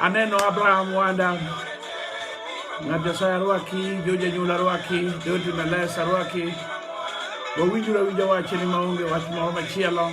Aneno Abraham Wanda, ng'at Nyasaye arwaki, jo janyuol arwaki, jo timbe les arwaki. Wawinjuru awinja wachni maonge wach moro machielo.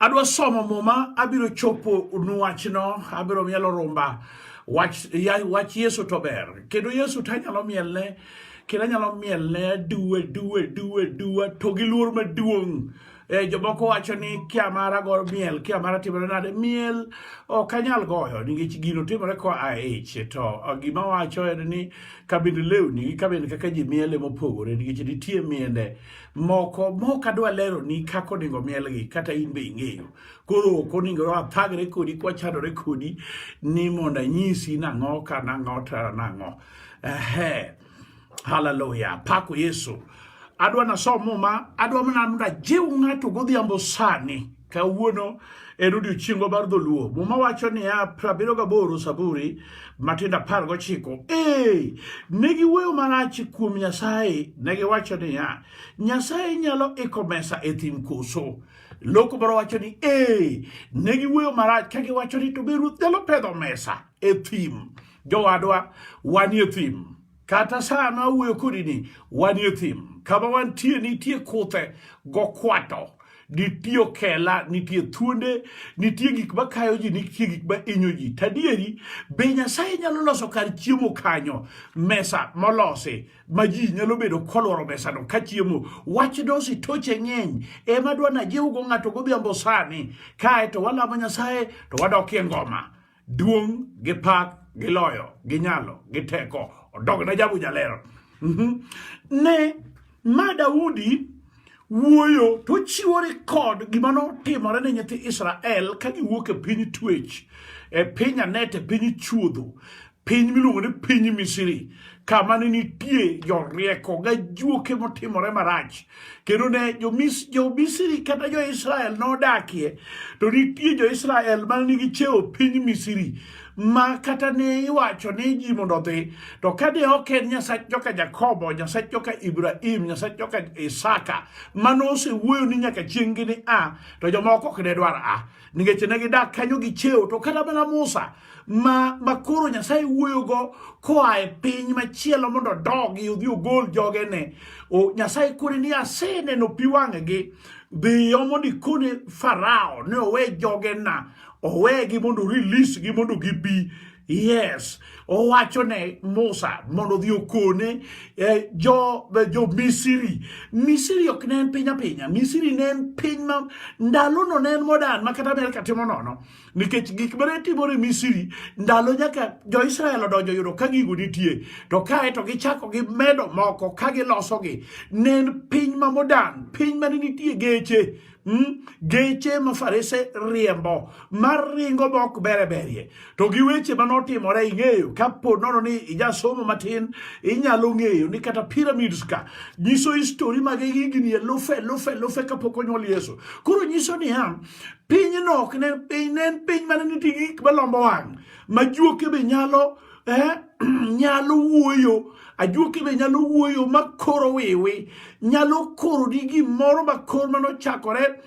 Adwa somo muma, abiro chopo nu wachno, abiro mielo rumba. Wach, ya, wach Yesu to ber. Kendo Yesu to anyalo mielne, kendo anyalo mielne aduwe, duwe, duwe, duwe, to gi luor maduong'. Eh, jomoko wacho ni kia mara go miel, kia mara timore nade. Miel ok anyal goyo nikech gino timore ko a ich. To eh, gima wacho en ni kabind lewni gi kabind kaka ji miele mopogore nikech nitie miende moko mok adwa leroni kaka onego mielgi kata in be ing'eyo koro ok onego wathagre kodi kwachadore kodi ni mondo anyisi nang'o ka nang'o tara nang'o ehe haleluya pako yesu adwa nasom muma adwa mana mondo ajiw ng'ato godhiambo sani Kawuono en odiochiengwa mar dholuo. Muma wacho niya prabiriyo gaboro Saburi matindo apar gochiko. Ee, ne giwuoyo marach kuom Nyasaye, ne giwacho niya, Nyasaye nyalo iko mesa e thim koso? Loko moro wacho ni ee, ne giwuoyo marach ka giwacho ni to be ruoth nyalo pedho mesa e thim. Jowadwa, wanie thim. Kata saa ma awuoyo kodi ni wanie thim, kama wantie nitie kuthe gokwato, nitie okela, nitie thuonde, nitie gik ma kayo ji, nitie gik ma inyo ji. Tadieri, be Nyasaye nyalo loso kar chiemo kanyo, mesa molosi ma ji nyalo bedo kolworo mesano ka chiemo. Wach dosi toche ng'eny, ema dwa najiwgo ng'ato godhiambo sani, kae to walamo Nyasaye to wadokie ngoma. Duong' gi pak gi loyo gi nyalo gi teko odog ne jabu jaler. Mhm. Ne ma Daudi wuoyo to chiwo rekod gima notimore ne nyithi Israel ka giwuok e piny twech e piny anet e piny chuodho piny miluongo ni piny Misri kama ne nitie jorieko ga juoke motimore marach kendo ne jo-misri kata jo-israel nodakie to nitie jo-israel ma nigi cheo piny misri ma kata ne iwacho ni ji mondo odhi to ka ne ok en nyasach joka jakobo nyasach joka ibrahim nyasach joka isaka mano osewuoyo ni nyaka chieng'gi ni a to jomoko ok ne dwar a nikech ne gidak kanyo gi cheo to kata mana Musa ma makoro Nyasaye wuoyogo koa e piny machielo mondo odogi odhi ogol jogene o Nyasaye kone ni aseneno pi wang'gi dhiyo mondo ikone Farao ni owe jogena owegi mondo release gi mondo gibi Yes, owacho ne Musa mondo odhi okone eh, jo, eh, jo Misiri. Misiri ok ne en piny apinya. Misiri ne en piny ma ndalono ne en modern ma kata Amerka timo nono. Nikech gik ma ne timore Misiri ndalo nyaka jo Israel odonjo yudo ka gigo nitie. To kae to gichako gi medo moko ka gilosogi. Ne en piny ma modern, piny ma ne nitie geche. Hmm? geche ma farese riembo mar ringo mok bere berie to gi weche ma notimore ing'eyo kapo nono ni ijasomo matin inyalo ng'eyo ni kata pyramids ka nyiso histori mag higni elufe elufe elufe kapok onyuol yesu koro nyiso niya pinyno ok ne piny ne en piny mane nitie gik malombo wang' ma juoke be nyalo eh? nyalo wuoyo ajuoke be nyalo wuoyo ma koro wiwi nyalo koro ni gimoro ma kor mano chakore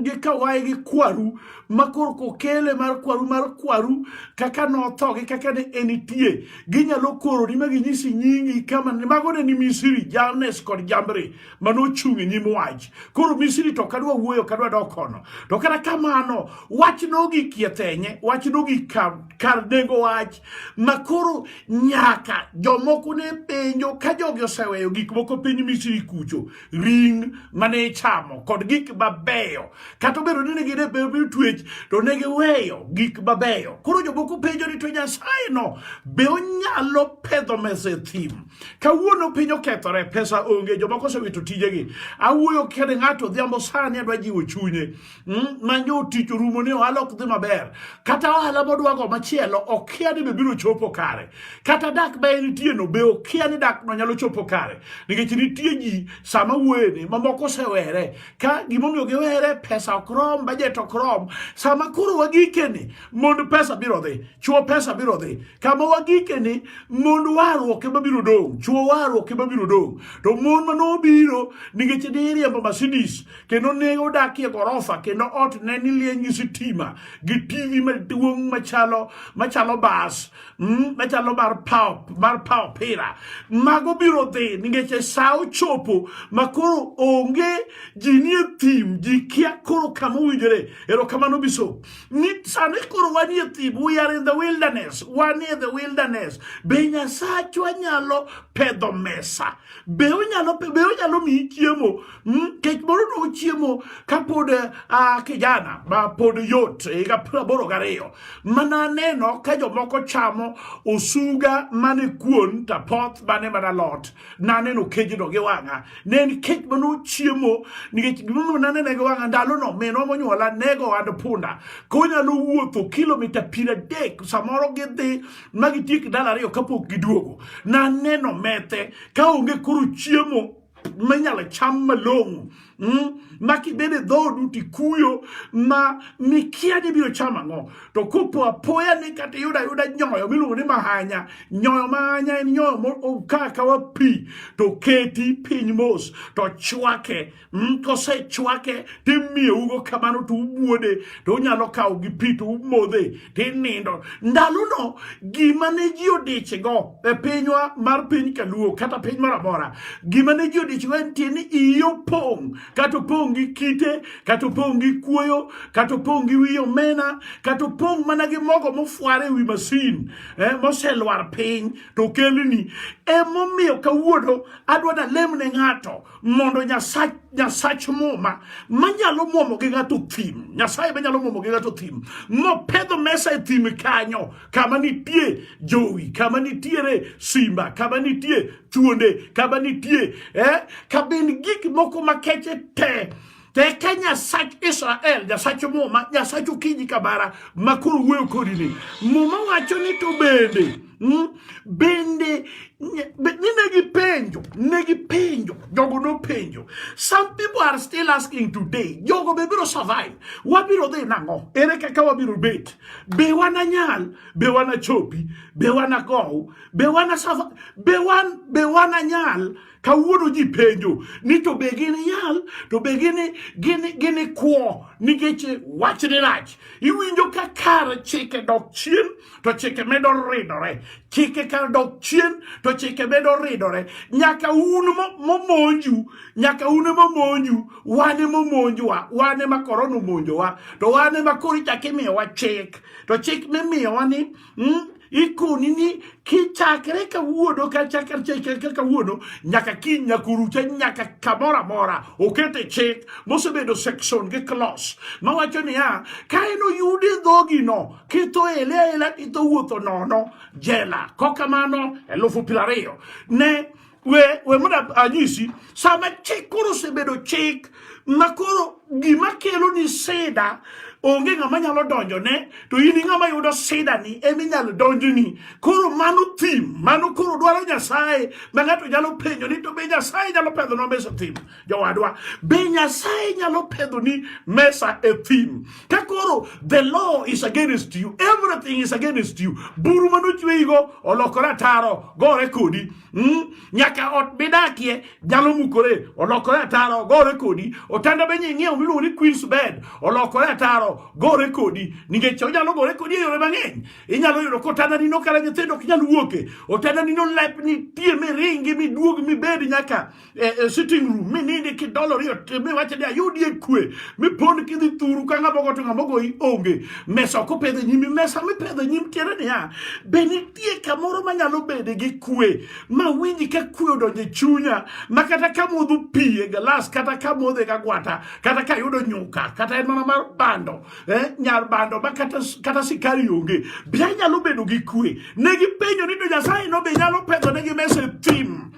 gi kawaye gi kwaru ma koro kokele mar kwaru mar kwaru kaka notho gi kaka ne enitie ginyalo koro ni ma ginyisi nyingi kama mago ne ni misiri jamnes kod jambre ma nochung' e nyim wach. Koro Misri to kadwa wuoyo kadwa dok kono. To kata kamano wach nogik yethenye, wach nogik kar, kar nengo wach ma koro nyaka jomoko ne penjo ka jogi oseweyo gik moko piny Misri kucho, ring mane ichamo kod gik mabeyo. Kata obedo ni ne gin e piny twech to ne giweyo gik mabeyo. Koro jomoko penjo ni to Nyasaye no be onyalo pedho mesa e thim? Kawuono piny okethore, pesa onge, jomoko osewito tijegi. Awuoyo kede ng'ato odhiambo sani adwa jiwo chunye. Mm, manyo tich rumo ni ohala ok dhi maber. Kata ohala modwago machielo okia ni be biro chopo kare. Kata dak ma en nitie no be okia ni dak no nyalo chopo kare. Nikech nitie ji sama wuoyeni mamoko osewere. Ka gimomiyo giwere pesa ok rom, bajet ok rom. Sama koro wagikeni mond pesa biro dhi chuo pesa biro dhi kama wagike ni mond warruok ema biro dong chuo warruok ema biro dong to mon ma nobiro nikech ne iriembo Mercedes kendo ne odakie gorofa kendo ot ne nilieny gi sitima gi TV maduong' machalo machalo bas mm, machalo mar pao mar pao pira mago biro dhi nikech e sa ochopo ma koro onge ji nie thim ji kia koro kama owinjore erokamano biso ni sani koro wanie thim we are in the wilderness wanie the wilderness be nyasachwa nyalo pedho mesa be onyalo be onyalo miyi chiemo hmm? kech moro no chiemo kapod uh, kijana ma pod yot higa praboro gariyo mana neno ka jomoko chamo osuga mane kuon tapoth mane mana lot naneno kejno gi wang'a ne en kech ma nochiemo nikech gimomiyo nanene gi wang'a ndalono minwa monyuola nego ohand punda konyalo wuotho kilomita piero adek samoro gidhi ma gitiek ndalo ariyo kapok giduogo naneno methe ka onge koro chiemo minyalo cham malong'o Mm, ma kibed e dhoodu tikuyo ma mikia ni biro chamo ang'o to kopo apoya ni kata iyudo ayuda nyoyo miluongo ni mahanya nyoyo mahanya en nyoyo mokaa kawa pi to keti piny mos to chwake mm, kosechwake timiyeugo kamano to ubuode to unyalo kawo gi pi to umodhe tinindo. Ndalono gima ne ji odichgo e pinywa mar piny Kaluo kata piny moro amora, gima ne ji odichgo en tie ni iyi opong' kata opong' gi kite kata opong' gi kuoyo kata opong' gi wi omena kata opong' mana gi mogo mofwar e wi masin eh, moselwar piny to okelni. Emomiyo kawuono adwa nalem ne ng'ato mondo nyasach nyasach muma manyalo mwomo gi ng'ato thim nyasaye manyalo mwomo gi ng'ato thim nopedho mesa e thim kanyo kama nitie jowi kama nitiere simba kama nitie thuonde kama nitie eh, kabin gik moko makeche te Teke Nyasach Israel, Nyasach Muma, Nyasach Okinyi Kabara, makoro wuoyo kodi ni. Muma wacho ni to bende, mm, bende, ni negi penjo, negi penjo, jogo no penjo. Some people are still asking today, jogo be biro survive, wabiro dhi nang'o, ere kaka wabiro bet, be wana nyal, be wana chopi, be wana gow, be wana survive, be wan, be wana nyal, Kawuono ji penjo ni to be gin yal to be gin gin gin kwo nikech wach ni rach. Iwinjo ka kar chike dok chien to chike medo ridore. Chike kar dok chien to chike medo ridore. Nyaka un momonju, nyaka un momonju, wan momonjwa, wan ma korona omonjowa, to wan ma koro ichak imiyowa chik. To chik mimiyowa ni mm? ikoni ni kichakre kawuono kachakre kawuono nyaka kiny nyakurucha nyaka kamoro amora okete chik mosebedo section gi klos mawacho niya ka en oyudi dhogino kitho ele aela itho wuotho nono jela kokamano elufu piero ariyo ne we we mondo anyisi sama chik koro osebedo chik ma koro gima kelo ni sida onge ng'ama nyalo donjo ne to in ng'ama yudo sida ni ema inyalo donjo ni koro mano thim mano koro dwaro nyasaye ma ng'ato nyalo penjo ni to be nyasaye nyalo pedho no mesa thim jowadwa be nyasaye nyalo pedho ni mesa e thim ka koro the law is against you everything is against you buru mano chweyigo olokore ataro gore kodi Mm, nyaka ot midakie nyalo mukore olokore ataro ogore kodi otanda be nying'iewo miluongo ni queens bed olokore ataro gore kodi nikech onyalo gore kodi e yore mang'eny inyalo yudo ka otanda nino kara nyithindo ok nyal wuoke otanda nino lepni tie miringi miduog mibed nyaka e, e sitting room mi nindi kidolori mi wacho ni ayudi e kwe mi pond kidhi thuru ka ng'ama ogoto ng'ama ogoyi onge mesa ok opedho nyimi mesa mipedho nyim tiere niya be nitie kamoro manyalo bede gi kwe ma winji ka kwe odonjo e chunya ma kata ka modho pi e galas kata ka modho e kagwata kata ka yudo nyuka kata en mana mar bando eh, nyar bando ma kata, kata sikari onge be anyalo bedo gi kwe ne gipenjo ni to nyasaye no be nyalo pedho ne gi mesa e thim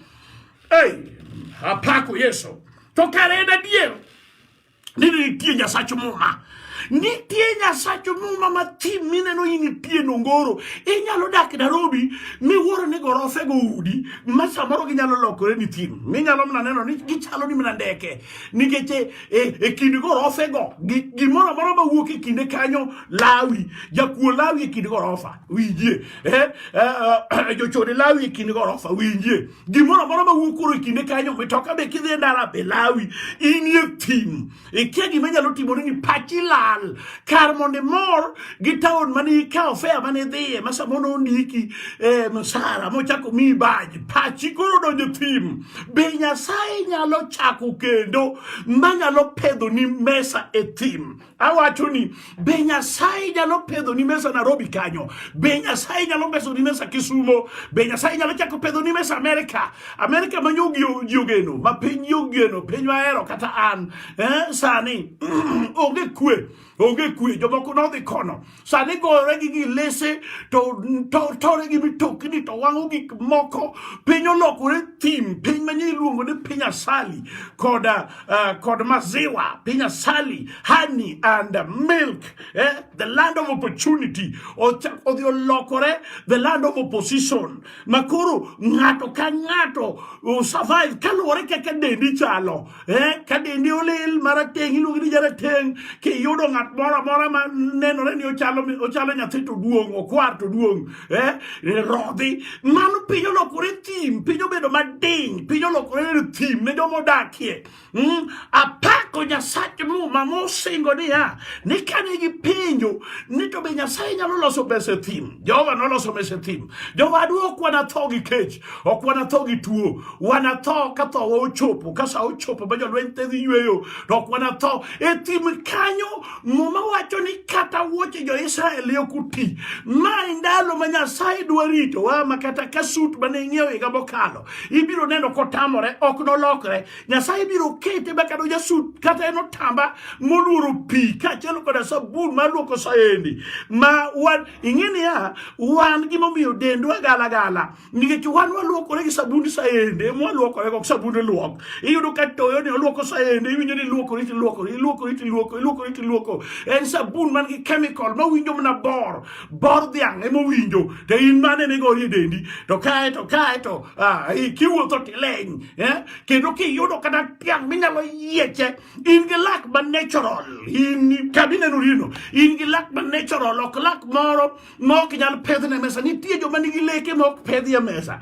Hey, apako Yesu. To kare en adier ni nitie Nyasach Muma. Nitie Nyasach Muma ma thim mineno in nitie Nongoro. Inyalo dak Nairobi miwuoro ni gorofe go udi ma samoro ginyalo lokore ni thim. Minyalo mana neno ni gichalo ni mana ndeke. Nikech e, e, e kind gorofe go gimoro amora ma wuok e kinde kanyo lawi. Jakuo lawi e kind gorofa. Winjie. Eh, eh, eh jochode lawi e kind gorofa. Winjie. gimoro amora ma wuok koro e kinde kanyo mitoka be kidhi e ndara be lawi inie thim ikia gima nyalo timore ni pachi lal kar mondo imor gi taon mane ikawo fea mane idhiye ma samoro nondiki eh, msara mochako miyi baj pachi koro donjo thim be nyasaye nyalo chako kendo manyalo pedho ni mesa e thim Awacho ni be Nyasaye nyalo pedho ni mesa Nairobi kanyo, be Nyasaye nyalo peso ni mesa Kisumo, be Nyasaye nyalo chako pedho ni mesa Amerika, Amerika ma nyogio jogeno, ma piny yogeno, piny mahero kata an eh, sani onge kwe, onge kwe, jomoko nodhi kono, sani gore gi gilese to tore gi mitokni to wang'o gik moko piny olokore thim piny manyien iluongo ni piny asali kod, uh, kod maziwa piny asali honey and milk eh? the land of opportunity odhi olokore the land of opposition makoro ng'ato ka ng'ato survive kaluwore kaka dendi chalo eh, ka dendi olil marateng' iluongi ni jarateng' kiyudo ng'at moro amora ma nenore ni ochalo ochalo nyathi to duong' okwar to duong' eh, rodhi mano piny olokore thim piny obedo madiny piny olokore thim ne joma odakie mm, apako nyasach muma mosingo niya ni kane gipenjo ni to be nyasaye nyalo loso pesa e thim jehova noloso pesa e thim jehova adwokwa natho gi kech Ok wanatho gi tuo, wanatho ka thowa ochopo, ka sa ochopo ma jolweny te dhi yweyo, to ok wanatho. E thim kanyo, Muma wacho ni kata wuoche jo-Israel ne ok oti. Ma e ndalo ma Nyasaye dwa ritowa, ma kata ka sut mane ing'iewo higa mokalo, ibiro neno kotamore, ok nolokre. Nyasaye biro kete ma kata ojasut kata en otamba moluoro pi kaachiel koda sabun mar luoko saendi ma wan ing'e niya wan gimomiyo dendwa gala gala nikech wan waluokore gi sabund saendi ema waluokore kok sabund luok iyudo ka toyo ni oluoko saendi iwinjo ni iluokori tiluokori iluokori tiluoko iluokori tiluoko en sabun man gi chemical ma winjo mana bor bor dhiang' ema owinjo to in mane ne gori e dendi to kae to kae to kiwuotho tileny eh? kendo kiyudo kata tiang' minyalo yieche in gi lak ma natural in kabineno rino in gi lak ma natural ok lak moro ma ok nyal pedhne mesa nitie joma nigi leke ma ok pedhie mesa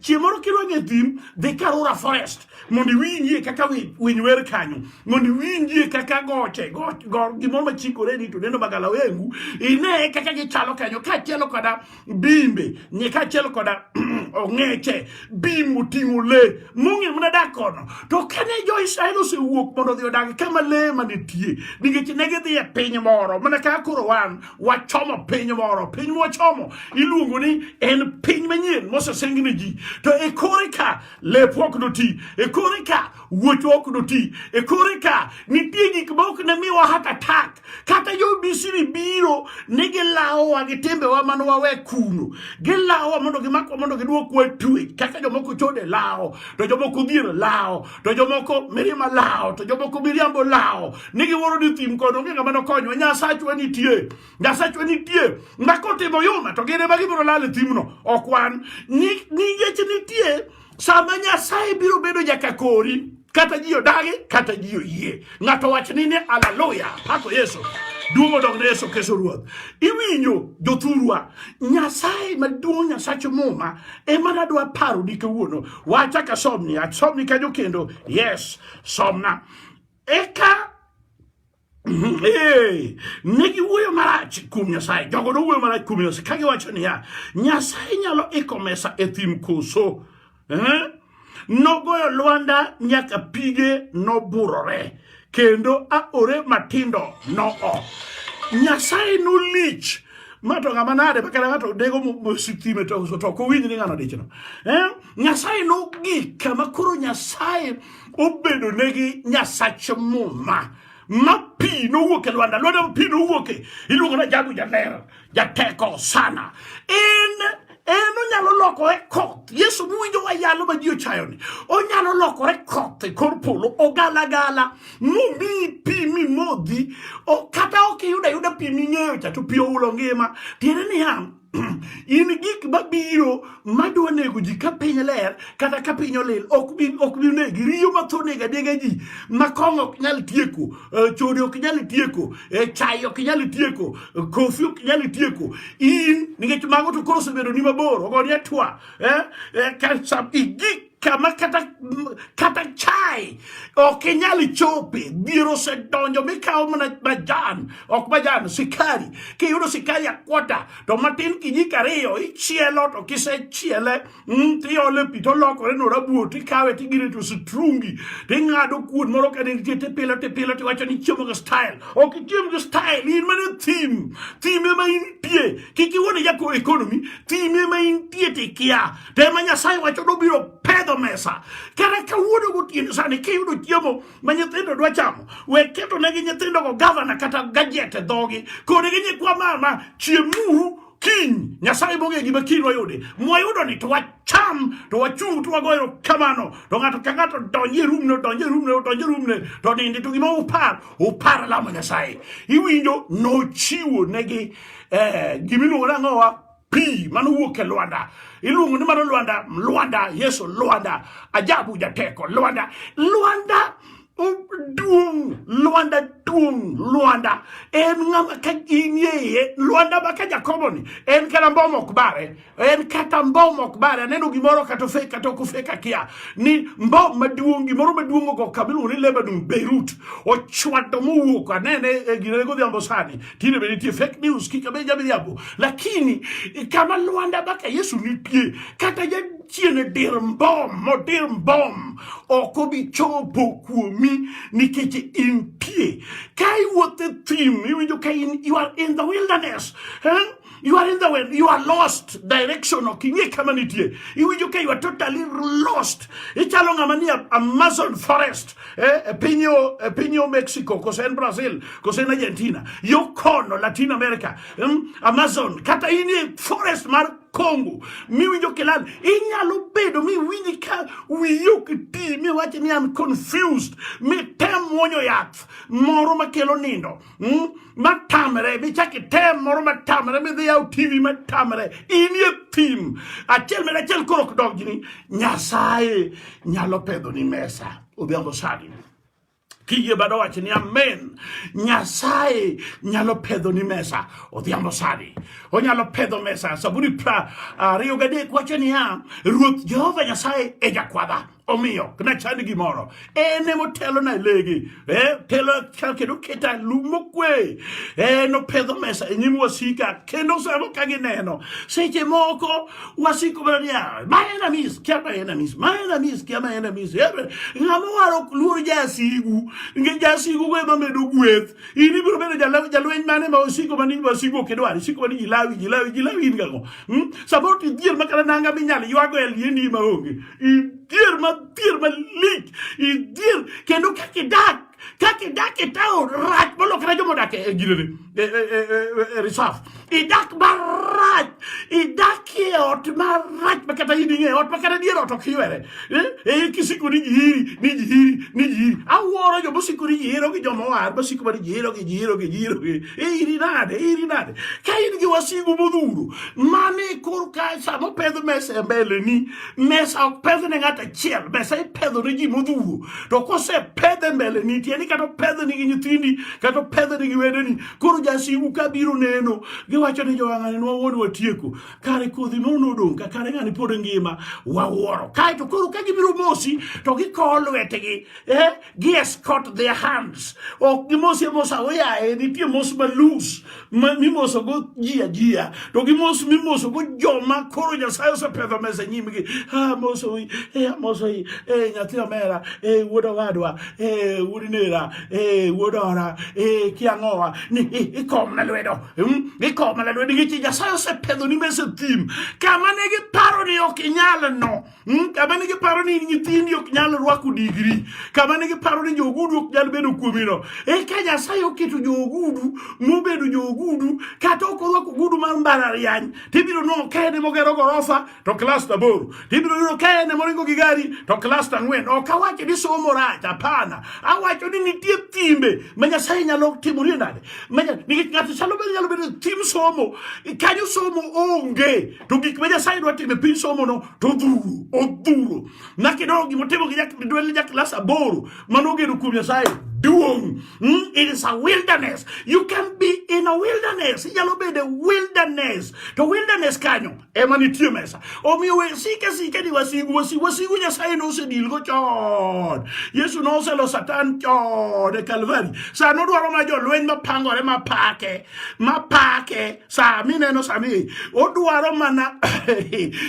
chieng' moro kidwa ng'e thim dhi karura forest mondo iwinjie kaka winy wer kanyo mondo iwinjie kaka goche gimoro machikore ni to neno magalawengu ine kaka gichalo kanyo kaachiel koda bimbe nye kaachiel koda ong'eche bim oting'o le mong'e mana dak kono to kane jo-israel osewuok mondo odhi odag kama le manitie nikech ne gidhi e piny moro mana kaka koro wan wachomo piny moro piny mwachomo iluongo ni en piny manyien mosesengni ji to e kore ka lep ok doti e kore ka wuoch ok doti e kore ka nitie gik ma ok ne miwa hat atak kata jo misiri biro ni gilawowa gi timbewa mane wawe kuno gilawowa mondo gimakwa mondo gidwokwa twech kaka jomoko chode lawo to jomoko dhier lawo to jomoko mirima lawo to jomoko miriambo lawo ni giwuoro ni thim kod onge ng'ama nokonywa nyasachwa nitie nyasachwa nitie makotimo yuma to gin ema gibiro lal e thimno ok wan ningech nitie sama nyasaye biro bedo nyaka kori kata ji odagi kata ji oyie ng'ato wach ni ni aleluya pako yesu duong' odog ne yesu keso ruoth iwinjo jothurwa nyasaye maduong' nyasach muma ema nadwa paro ni kawuono wacha ka somni asomni kanyo kendo yes somna eka mhm, eh, ne giwuoyo marach kuom nyasaye jogo nowuoyo marach kuom nyasaye ka giwacho niya nyasaye nyalo iko mesa e thim koso eh? Nogoyo lwanda nyaka pige noburore, kendo aore matindo noo. Nyasaye nolich mato ng'ama nade makata ng'ato dego mositime to ok owinj ni ng'ano dichno eh? nyasaye nogik kama koro nyasaye obedo negi nyasach muma ma pi nowuok e lwanda lwanda pi nowuoke iluongo na jagu jaler jateko sana en en onyalo lokore koth yesu muwinjo wayalo ma ji ochayoni onyalo lokore koth e kor polo ogalagala mumi pi mimodhi kata ok iyudo ayuda pi ming'eyo cha to pi oulo ngima tiende niya in gik mabiro madwa nego ji ka piny ler kata ka piny olil ok bi negi riyo matho nega nega ji ma kong'o ok nyal tieko Eh, chode ok nyal tieko eh, chai ok nyal tieko eh, kofi ok nyal tieko in nikech mago to koro osebedo ni mabor ogoni atwa igik kama kata kata chai ok inyal chope dhier osedonjo mikawo mana majan ok majan sikari kiyudo sikari akwota to matin kijiko ariyo ichielo to kisechiele Mm, tiole pi to lokore no rabuo tikawe tigire to sitrungi ting'ado kuon moro ka nitie tipilo tipilo tiwacho ni chiemo gi style ok ichiem gi style in mana thim thim ema intie kik iwone jako economy thim ema intie tikia to ema nyasaye wacho nobiro pedho mesa kata kawuono gotieno sani kiyudo chiemo ma nyithindo dwa chamo we ketonegi nyithindogo gavana kata gajet e dhogi kodgi nyikwa mama chiemuru kiny nyasaye mong'e gima kiny wayude mwayudo ni to wacham to wachung to wagoyo kamano to ng'ato ka ng'ato donje rumne donje rumne donje rumne to nindi to gima upar upar lamo nyasaye iwinjo nochiwo negi eh, gimiluongo nang'owa pi mano wuok e lwanda iluongo ni mano lwanda lwanda yesu lwanda ajabu jateko lwanda lwanda duong' Lwanda duong' Lwanda en ng'ama ka inie iye Lwanda ma ka Jakobo ni en kata mbom ok bare en kata mbom ok bare aneno gimoro kata ofek kata ok ofek akia ni mbom maduong' gimoro maduong' ogo kabiluongo ni Lebanon Beirut ochwado mowuok anene e eh, gine godhiambo sani tinde be nitie fake news kik abe jabiriambo lakini kama Lwanda baka Yesu nitie kata Chieng' dir mbom modir mbom ok obi chopo kuomi nikech intie. Ka iwuotho e thim iwinjo ka in you are in the wilderness. Eh? You are in the way. You are lost. Direction ok ing'e kama nitie. Iwinjo ka you are totally lost. Ichalo ng'ama ni Amazon forest. Eh, e piny e piny Mexico, kose en Brazil, kose en Argentina. Yo kono Latin America. Hmm? Amazon kata in e forest mar Kongo miwinjo kilal, inyalo bedo miwinji ka wiyi ok ti miwachi ni am confused, mitem muonyo yath moro makelo nindo mm? matamre, michak item moro matamre, midhi yaw TV matamre, inie thim achiel med achiel koro ok donjni. Nyasaye nyalo pedho ni mesa odhiambo sani. Kiyie bado wacho ni amen. Nyasaye nyalo pedho ni mesa odhiambo sani. Onyalo pedho mesa. Saburi pra ariyo gadek wacho niya, Ruoth Jehova Nyasaye e jakwadha. Omiyo, na chand gimoro. En e motelo na legi. Eh, telo kendo keta lumo kwe. Eh, no pedho mesa e nyim wasika. Kendo samo ka gineno. Seche moko wasiko mana ni ah, my enemies kia my enemies my enemies kia my enemies ng'ama waro ok luor jasigu nge jasigu go ema medo gweth in ibiro bedo jalweny mane ma osiko mani wasigu ok idwar isiko mani jilawi jilawi jilawi in gago hmm? samoro tidhier makata nanga minyalo ywago e lieni ma onge idhier ma dhier malich idhier kendo kaka idak kake dak e taon rach molokre joma odak e ginene e, e, e, reserve idak marach idak e ot marach ma kata in ing'e ot ma kata dier ot ok ywere e kisiko ni jihiri ni jihiri ni jihiri awuoro joma osiko ni jihiro gi joma oar masiko ma ni jihiro gi jihiro gi jihiro gi iri nade iri nade ka in gi wasigu modhuro mane korka sama opedh mesa e mbeleni mesa ok pedhne ng'at achiel mesa ipedho ne ji modhuro to kosepedhe mbele ni tieni kata opedhni gi nyithindi kata opedhni gi wedeni koro jasigu ka biro neno giwacho ni jowang'ani nwawuon watieko kare kodhi ma unodong' ka kare ng'ani pod ngima wawuoro kaeto koro ka gibiro mosi to gikowo lwetgi eh? gi escort their hands ok gimosi amosa oyaye nitie mos malus mimosogo ji ajiya to gimos mimosogo joma koro nyasaye osepedho mesa nyimgi amosoi e amosoi e nyathi omera e wuod owadwa e wuod nera e wuod ora e kiang'owa ni ikomna lwedo ikomna lwedo nikech nyasaye osepedho ni mesa thim kama ne giparo ni ok inyal no Hmm? Kama ne giparo ni nyithindi ok nyal rwako digri, kama ne giparo ni joogudu ok nyal bedo kuomino, eka Nyasaye oketo joogudu mobedo joogudu kata ok orwako ogudu mar mbalariany, tibiro neno ka en mogero gorofa to klas aboro, tibiro neno ka en moringo gi gari to klas ang'wen. Ok awacho ni somo rach, hapana, awacho ni nitie timbe ma Nyasaye nyalo timorie nade, nikech ng'ato chalo bedo nyalo bedo tim somo kanyo somo onge to gik ma Nyasaye dwa timo e piny somono to odhuro odhuro. Nyaka idog gima otimo gi dwelne ja klas aboro mane ogeno kuom Nyasaye duong'. Mm, it is a wilderness. You can be in a wilderness. Inyalo bedo wilderness. To wilderness kanyo ema nitie mesa. Omiyo we sike sike ni wasigu wasigu wasigu Nyasaye nosedilgo chon. Yesu noselo Satan chon e Kalvari. Sano dwaro ma jolweny mapangore mapake mapake saa mineno sani odwaro mana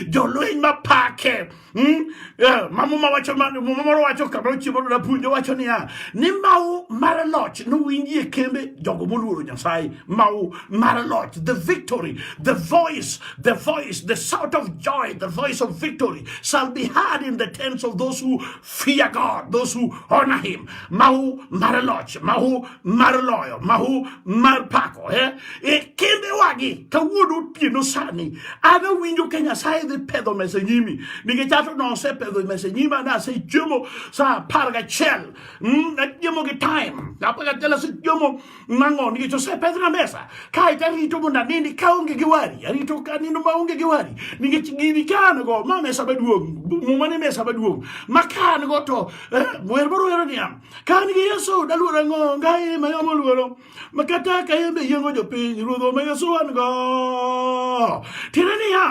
jolweny mapake hmm? eh, mamuma wacho muma moro wacho kamano chiemo na puonjo wacho niya ni mau mar loch nowinji e kembe jogo moluoro nyasaye mau mar loch the victory the voice the voice the sound of joy the voice of victory shall be heard in the tents of those who Fear God, those who honor him. Mahu mar loch, mahu mar loyo, mahu mar pako. Eh? E kinde wagi, kawuono otieno sani, an awinjo ka Nyasaye dhi pedho mesa nyimi. Nikech ato nosepedho mesa nyima, ne asechiemo sa apar gachiel. Mm, achiemo gi time. Apar gachiel asechiemo Mang'o nikech osepedhna mesa kae to arito mondo anindi kaonge gi wari arito kanindo maonge gi wari nikech gini ka an go ma mesa maduong' muma ni mesa maduong' ma ka an go to eh, wer moro wero niya ka an gi yesu daluor ang'o ngaye ma yamo luoro ma kata ka yembe yiengo jopiny ruodho ma yesu an go tiende niya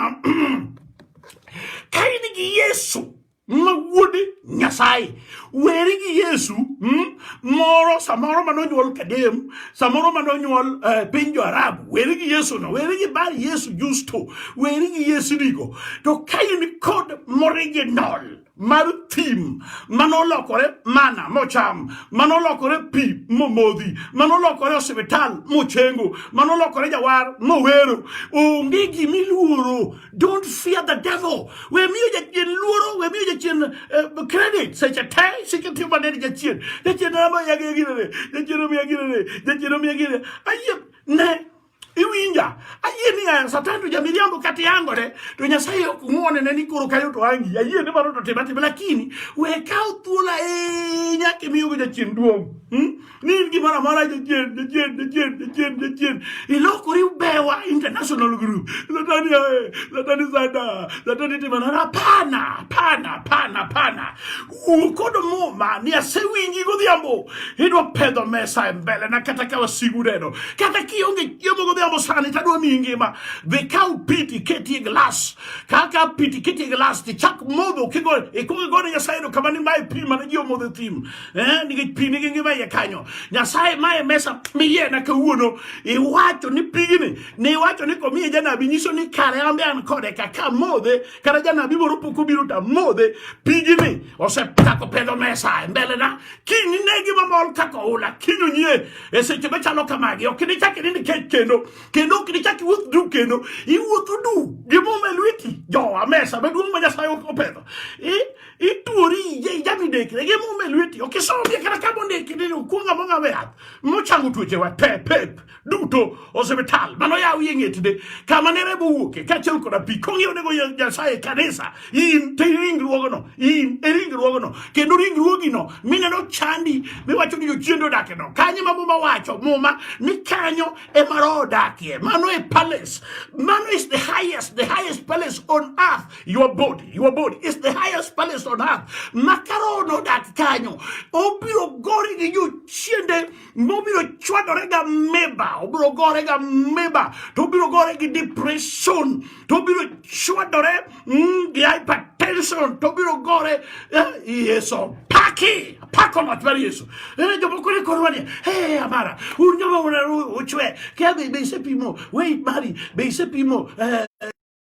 ka in gi yesu ma wuod nyasaye weri gi yesu hmm? moro samoro mane onyuol kadem samoro mane onyuol eh, piny jo arabu weri gi yesu no weri gi bar yesu justo weri gi yesu digo to ka in kod moriginal mar thim manolokore mana mocham manolokore pi momodhi manolokore osiptal mochengo manolokore jawar mowero onge gimiluoro Don't fear the devil. We miyo jachien luoro, we miyo jachien uh, credit. Seche te, seche te mane ni jachien. Jachien na ma yagi yagi ne. Jachien na ma yagi ne. Jachien na ma yagi ne. Aye, ne. Iwinja. Aye ni ya satan tu jamiri ambo kati yango ne. Tu nyasaye kumone ne ni kuru kayo tu angi. Aye ni maro tu tebati. Lakini, we kao tula e nyake miyo jachien duong. Hmm? ni in gimoro amora jachien jachien jachien jachien jachien ilokori ubewa international group latani ae latani sada latani timanana hapana hapana hapana hapana wuo kod muma ni asewinji godhiambo idwa pedho mesa e mbele na kata ka wasigu neno kata kionge chiemo godhiambo sani tadwa miyi ngima dhi kaw piti ketie glas ka ka piti ketie glas tichak modho kigo ikwongo igone nyasaye erokamano ni mae pi mane ji omodho e thim eh, nikech pi nigi ngima iye kanyo nyasaye mae mesa miyena kawuono iwacho ni pigni ni iwacho ni komiye janabi nyiso ni kare ambe an kode kaka modhe kata janabi moro pok obiro ta modhe pigni osechako pedho mesa e mbelena kiny ne gima mol kaka oula kiny onyie e seche machalo kamagi ok nichak ni nikech kendo kendo ok nichak iwuoth du kendo iwuotho du gimuma e lweti jowa mesa maduong' ma nyasaye opedho ituori ije ijami dekre ge mume lweti ok isomie kata ka mondiki ni okuonga monga we yath mochango tuochewa te pep duto osiptal mano yaw ye ng'etide kama ne remo wuoke kaachiel koda pi kong'iew nego nyasaye kanisa in te ringruogno in e ringruogno kendo ringruogino mineno chandi miwacho ni jochiende odakeno kanyo ma muma wacho muma ni kanyo ema roho odakie mano e palace mano is the highest the highest palace on earth your body your body is the highest place on earth makaro nodak kanyo obiro gori gi jochiende mobiro chwadore ga meba obiro gore ga meba to obiro gore gi depression to obiro chwadore mm, gi hypertension to obiro gore eh, yeso paki pako mach mar yesu ere eh, jomoko ne korwa ni he amara un joma unaru uchwe kia be isepimo weit mari be isepimo eh,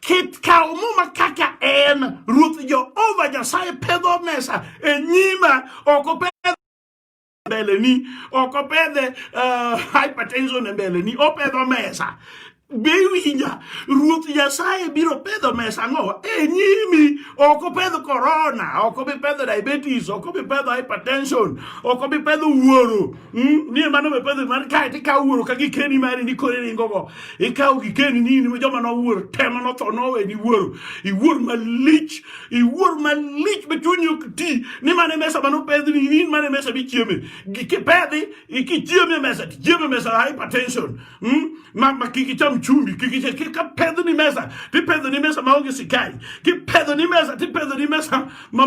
Kit kawo muma kaka en, Ruoth Jehova Nyasaye pedho mesa e nyima, ok opedh mbeleni, ok opedhe uh, hypertension e mbeleni, opedho mesa be iwinja ruoth nyasaye biro pedho mesa ng'owa e nyimi ok opedh korona ok obi pedho diabetes ok obi pedho hypertension ok obi pedho wuoro Hmm? ni mano be pedho mar kae to ikawo wuoro ka gikeni mari ni kore ringogo ikawo gikeni ni in joma nowuoro tema notho noweni wuoro iwuor malich iwuor malich be chunyi ok ti ni mane mesa mane opedhni in mane mesa michieme gikipedhi ikichieme mesa tichieme mesa hypertension mm? ma ma ki ki cham chumbi ki ki ki ka pedho ni mesa ti pedho ni mesa maonge sikai ki pedho ni mesa ti pedho ni mesa ma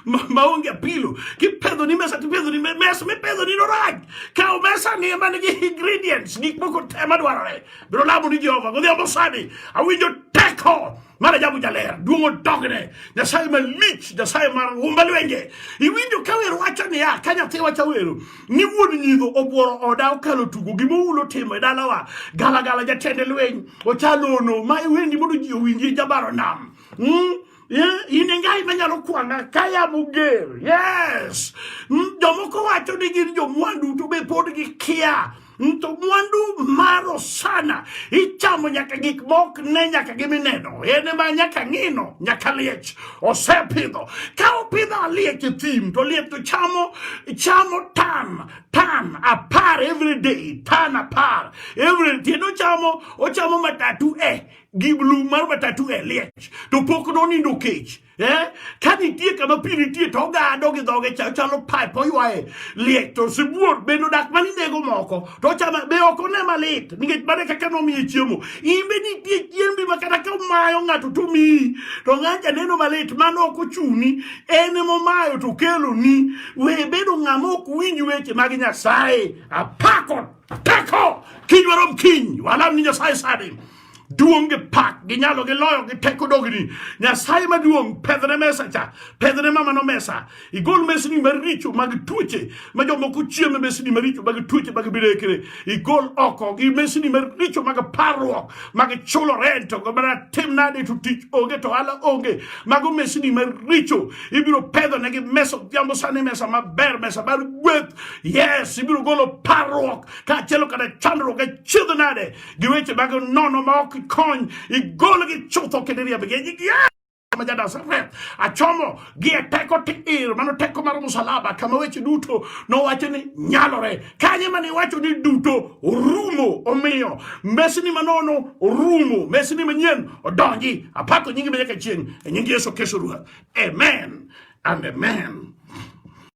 ma maonge apilo ki pedho ni mesa ti pedho ni mesa mi pedho ni no raj ka mesa ni man gi ingredients gik moko te madwarore biro lamo ni Jehova godhiambo sani awinjo teko mana jabu jaler duongo dogne nyasaye malich nyasaye mar umba lwenje iwinjo ka wer wacho niya ka nyathi wacho wero ni wuon nyidho obworo oda okalo tugo gima ulo timo e dalawa galagala jatende lweny ochalono ma iwendi mondo ji owinji jabaro nam mm? Yeah, in e ngai manyalo kwanga kaya muger yes mm, jomoko wacho ni gin jomwandu to be pod gikia Nto mwandu maro sana ichamo nyaka gik mok ne nyaka gimineno en ma nyaka ng'ino nyaka liech osepidho ka opidho aliech e thim to liech to chamo chamo tan tan apar every day tan apar every day no chamo ochamo matatu e eh, gi blue mar matatu e eh, liech to pok nonindo kech eh ka nitie kama pi nitie to ogado gi dhoge cha chalo pipe oywaye liech to sibuor bende odak ma ninego moko to ochama be ok one malit nikech mane kaka nomiye chiemo in be nitie chiembi ma kata ka omayo ng'ato to miyi to ng'anja neno malit mano ok ochuni en emomayo to keloni we bedo ng'ama ok winj weche mag nyasaye apako tako kiny warom kiny walam ni nyasaye sani duong' gi pak gi nyalo gi loyo gi teko dogni nyasaye maduong' pedhne mesa cha pedhne mamano mesa igol mesni maricho mag tuoche ma jomoko chieme mesni maricho mag tuoche mag bilekre igol oko gi mesni maricho mag parruok mag chulo rent ogo mana tim nade to tich onge to ala onge mago mesni maricho ibiro pedho negi mesa odhiambo sani mesa maber mesa mar gweth yes ibiro golo parruok kaachiel kada chandruok achiedh nade gi weche mag nono ma ok kony igolgi chutho kendo iriembgi e nying Yesu ma ja-Nazareth. Achomo gi e teko tiir, mano teko mar msalaba, kama weche duto nowacho ni nyalore. Kanye mane iwacho ni duto orumo, omiyo mesni manono orumo, mesni manyien odonji. Apako nyingi ma nyaka chieng' e nying Yesu Kristo Ruoth. Amen and amen.